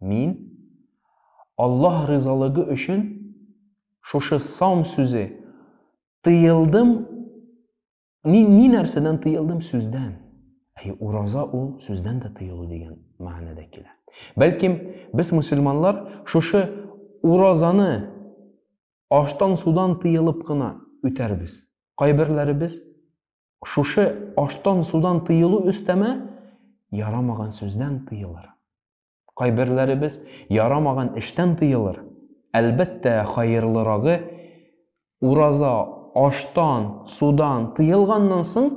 Мин Аллаһ ризалыгы өчен шушы саум сүзе тыелдым ни, ни нәрсәдән тыелдым сүздән әй ураза ул сүздән дә тыелу дигән мәгънәдә килә бәлкем без мөселманлар шушы уразаны аштан судан тыелып кына үтәрбез кайберләребез Шушы аштан-судан тыелу өстәмә ярамаган сүздән тыелыр. Кайберләребез ярамаган эштән тыелыр. Әлбәттә, хаерлырагы ураза аштан, судан тыелганнан соң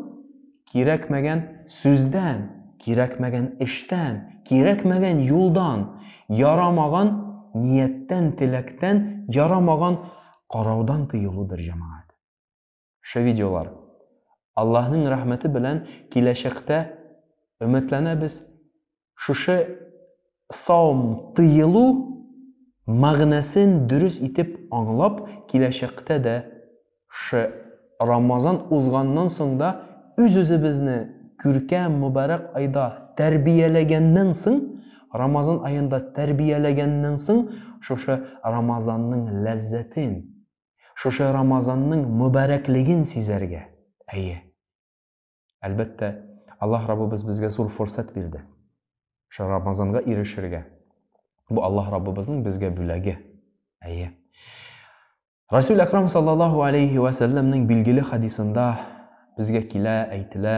кирәкмәгән сүздән, кирәкмәгән эштән, кирәкмәгән юлдан, ярамаган нияттән, теләктән, ярамаган караудан тыелудыр, җәмәгать. Шы видеолар. Аллаһның рәхмәте белән киләчәктә өметләнәбез шушы саум тыелу мәгънәсен дөрес итеп аңлап киләчәктә дә шы Рамазан узганнан соң да үз-үзебезне күркәм мөбарәк айда тәрбияләгәннән соң Рамазан аенда тәрбияләгәннән соң шушы Рамазанның ләззәтен Шушы Рамазанның мөбарәклеген сизәргә. Әйе. Әлбәттә, Аллаһ Раббыбыз безгә зур форсат бирде. Шушы Рамазанга ирешергә. Бу Аллаһ Раббыбызның безгә бүләге. Әйе. Расул Әкрам саллаллаһу алейхи ва сәлләмнең билгеле хадисында безгә килә, әйтелә.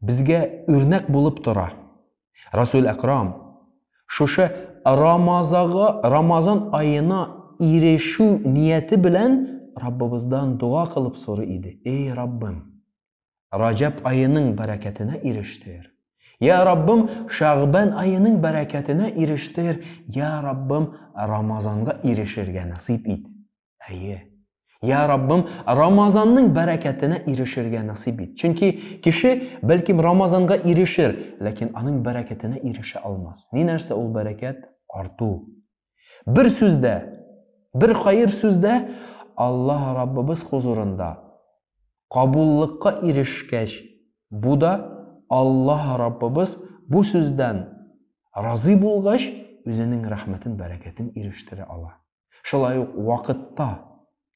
Безгә үрнәк булып тора. Расул Әкрам шушы Рамазага, Рамазан аена ирешү нияте белән Раббыбыздан дуга кылып сорый иде. Эй Раббым, Раҗәб аеның бәрәкәтенә ирештер. Я Раббым, Шәгъбән аеның бәрәкәтенә ирештер. Я Раббым, Рамазанга ирешергә насыйп ит. Әйе. Я Раббым, Рамазанның бәрәкәтенә ирешергә насыйп ит. Чөнки кеше бәлкем Рамазанга ирешер, ләкин аның бәрәкәтенә ирешә алмас. Ни нәрсә ул бәрәкәт? Арту. Бер сүздә, бер хәер сүздә Аллаһ Раббыбыз хузурында кабуллыкка ирешкәч, бу да Аллаһ Раббыбыз бу сүздән разый булгач, үзенең рәхмәтен, бәрәкәтен ирештерә ала. Шулай ук вакытта.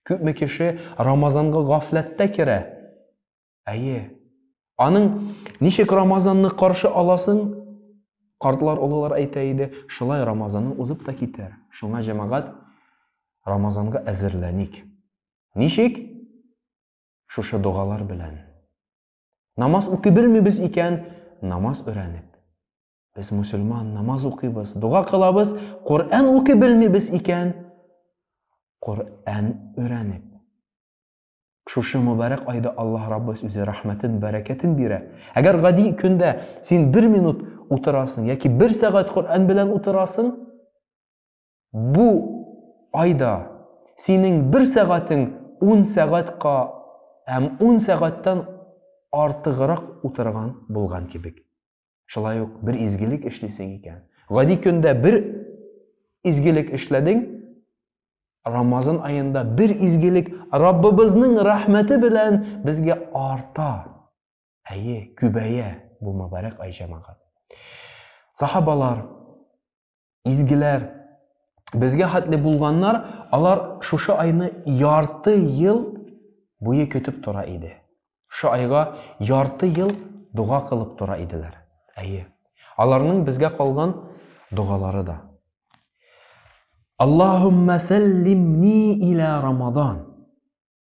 Күпме кеше Рамазанга гафләттә керә? Әйе. Аның ничек Рамазанны каршы аласың? Картлар, олылар әйтә иде, шулай Рамазанның узып та китәр. Шуңа җәмәгать Рамазанга әзерләник. Ничек? Шушы догалар белән. Намаз укый белмибез икән, намаз өйрәнеп. Без мусульман, намаз укыйбыз, дога кылабыз, Коръән укый белмибез икән, Коръән өйрәнеп. Шушы мөбарәк айда Аллаһ Раббыбыз үзе рәхмәтен, бәрәкәтен бирә. Әгәр гади көндә син бер минут утырасың яки бер сәгать Коръән белән утырасың, бу айда синең бер сәгатең 10 сәгатька һәм 10 сәгатьтән артыграк утырган булган кебек. Шулай ук бер изгелек эшлисең икән. Гади көндә бер изгелек эшләдең, Рамазан аенда бер изгелек Раббыбызның рәхмәте белән безгә арта. Әйе, күбәя бу мөбарәк ай җәмәгать. Сахабалар Изгеләр, безгә хәтле булганнар, алар шушы айны ярты ел буе көтеп тора иде. Шушы айга ярты ел дога кылып тора иделәр. Әйе. Аларның безгә калган догалары да. Аллаһумма сәллимни илә Рамадан.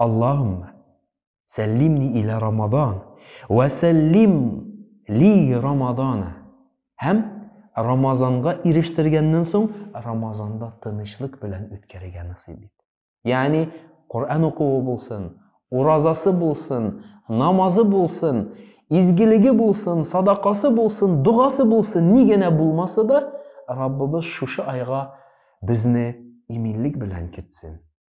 Аллаһумма сәллимни илә Рамадан вә сәллим ли Рамадана. Һәм Рамазанга ирештергәннән соң Рамазанда тынычлык белән үткәрергә насыйп ит. Ягъни Коръән укуы булсын, уразасы булсын, намазы булсын, изгелеге булсын, садакасы булсын, догасы булсын, ни генә булмаса да, Раббыбыз шушы айга безне иминлек белән кертсен.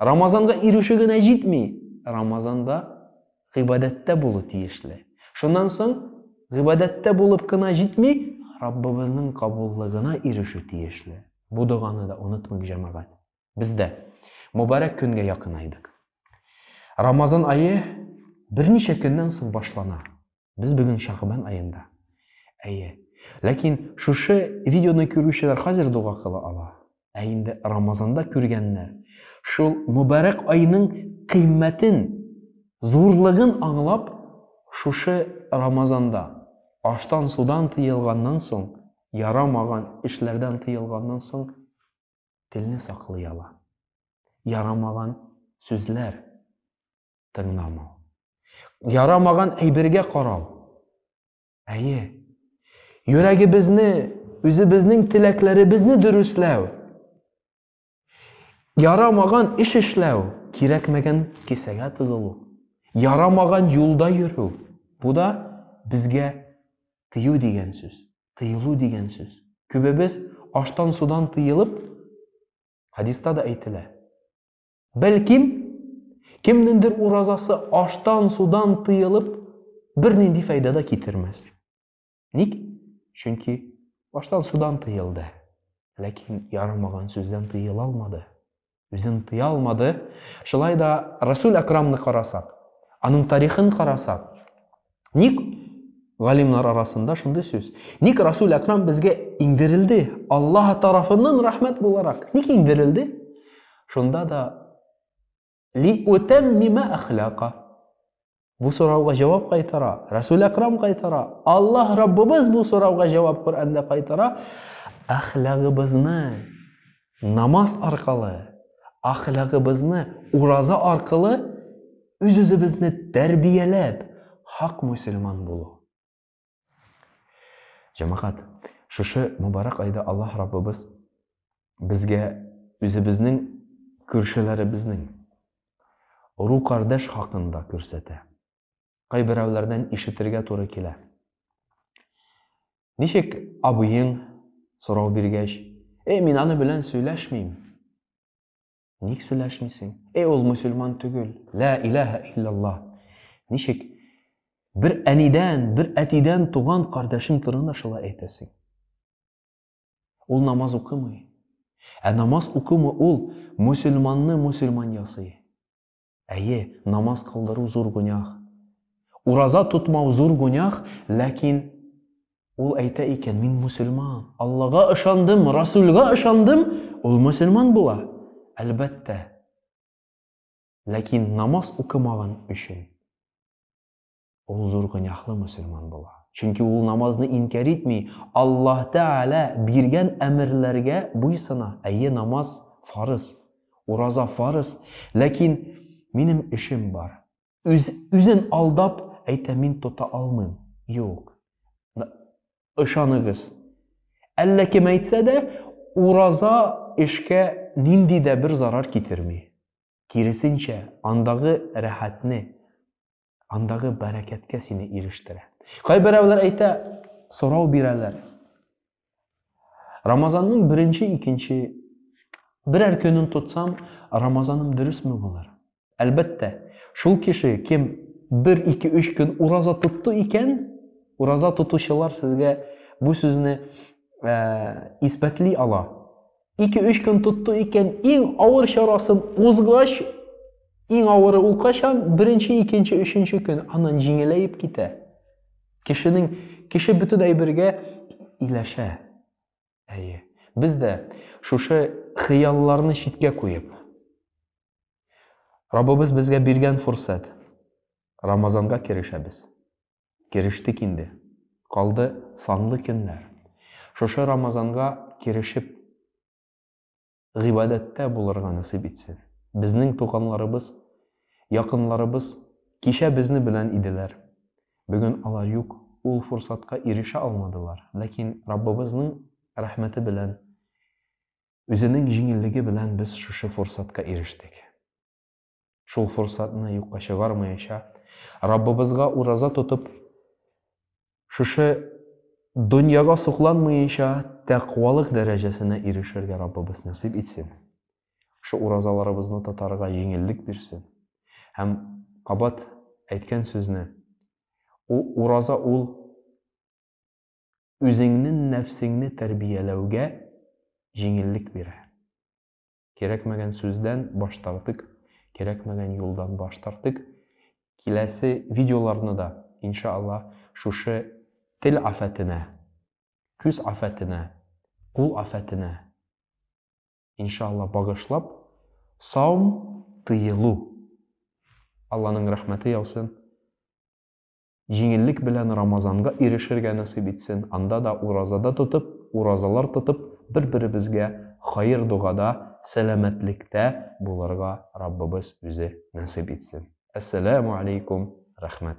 Рамазанга ирешү генә җитми. Рамазанда гыйбадәттә булу тиешле. Шуннан соң гыйбадәттә булып кына җитми, Раббыбызның кабуллыгына ирешү тиешле. Бу доганы да онытмыйк, җәмәгать. Без дә мөбарәк көнгә якынайдык. Рамазан ае берничә көннән соң башлана. Без бүген Шагбан аенда. Әйе. Ләкин шушы видеоны күрүчеләр хәзер дога кыла ала. Ә инде Рамазанда күргәннәр шул мөбарәк айның кыйммәтен, зурлыгын аңлап, шушы Рамазанда аштан судан тыелганнан соң, ярамаган эшләрдән тыелганнан соң телне саклый ала. Ярамаган сүзләр тыңламау. Ярамаган әйбергә карау. Әйе. Йөрәгебезне, үзебезнең теләкләребезне дөресләү. Ярамаган эш эшләү, кирәкмәгән кесәгә тыгылу. Ярамаган юлда йөрү. Бу да безгә тыю дигән сүз, тыелу дигән сүз. Күбебез аштан судан тыелып, хадиста да әйтелә. Бәлкем, кемнеңдер уразасы аштан, судан тыелып, бернинди файда да китермәс. Ник? Чөнки аштан, судан тыелды. Ләкин ярамаган сүздән тыела алмады. Үзен тыя алмады. Шулай да Расул Акрамны карасак, аның тарихын карасак, Ник галимнар арасында шундый сүз? Ник Расул Акрам безгә иңдерелде? Аллаһ тарафыннан рәхмәт буларак. Ник иңдерелде? Шунда да ли утәммима әхлака. Бу сорауга җавап кайтара. Расул Акрам кайтара. Аллаһ Раббыбыз бу сорауга җавап Коръәндә кайтара. Әхлагыбызны Намаз аркылы, ахлагыбызны ураза аркылы үз-үзебезне тәрбияләп, хак мөселман булу. Җәмәгать, шушы мөбарәк айда Аллаһ Раббыбыз безгә үзебезнең күршеләребезнең, уру-кардәш хакында күрсәтә. кайберәүләрдән ишетергә туры килә. Ничек абыең сорау биргәч, "Эй, мин аны белән сөйләшмим". Ник сөйләшмисең? Эй, ул мусульман түгел. Ла илаһа илляллаһ. Ничек бер әнидән, бер әтидән туган кардәшең турында шулай әйтәсең? Ул намаз укымый. Ә намаз укымы ул мусульманны мусульман ясый. Әйе, намаз кылдыру зур гөнаһ. Ураза тотмау зур гөнаһ, ләкин ул әйтә икән, мин мөселман, Аллага ышандым, Расүлгә ышандым, ул мөселман була, әлбәттә. Ләкин намаз укымаган өчен ул зур гөнаһлы мөселман була. Чөнки ул намазны инкяр итми, Аллаһ Тәгалә биргән әмерләргә буйсына. Әйе, намаз фарыз, ураза фарыз, ләкин минем эшем бар. Үз, үзен алдап әйтә, мин тота алмыйм. Юк. Ышаныгыз. Әллә кем әйтсә дә, ураза эшкә нинди дә бер зарар китерми. Киресенчә, андагы рәхәтне, андагы бәрәкәткә сине ирештерә. Кайберәүләр әйтә, сорау бирәләр. Рамазанның беренче, икенче берәр көнен тотсам, Рамазаным дөресме булыр? Әлбәттә, шул кеше кем 1-2-3 көн ураза тотты икән, ураза тотучылар сезгә бу сүзне ә, исбәтли ала. 2-3 көн тотты икән, иң авыр чарасын узгач, иң авыры ул качан? Беренче, икенче, өченче көн аннан җиңеләеп китә. Кешенең кеше бөтен әйбергә иләшә. Әйе. Без дә шушы хыялларны читкә куеп, Раббыбыз безгә биргән фурсат Рамазанга керешәбез. Керештек инде. Калды санлы көннәр. Шушы Рамазанга керешеп, гыйбадәттә булырга насыйп итсен. Безнең туганларыбыз, якынларыбыз кичә безне белән иделәр. Бүген алар юк, ул форсатка ирешә алмадылар. Ләкин Раббыбызның рәхмәте белән, Үзенең җиңеллеге белән без шушы форсатка ирештек. Шул форсатны юкка чыгармаячак. Раббыбызга ураза тотып, шушы дөньяга сокланмыйча тәкъвалык дәрәҗәсенә ирешергә Раббыбыз насыйп итсен. Шушы уразаларыбызны тотарга җиңеллек бирсен. Һәм кабат әйткән сүзне ул ураза ул үзеңнең нәфсеңне тәрбияләүгә җиңеллек бирә. Кирәкмәгән сүздән баш тартык, кирәкмәгән юлдан баш тартык. Киләсе видеоларны да, инша Аллаһ, шушы тел афәтенә, күз афәтенә, кул афәтенә, инша Аллаһ, багышлап, саум тыелу. Алланың рәхмәте яусын. Җиңеллек белән Рамазанга ирешергә насыйп итсен, анда да уразада тотып, уразалар тотып, бер-беребезгә хәер-догада, сәламәтлектә булырга Раббыбыз үзе насыйп итсен. Әссәләмү алейкум, рәхмәт.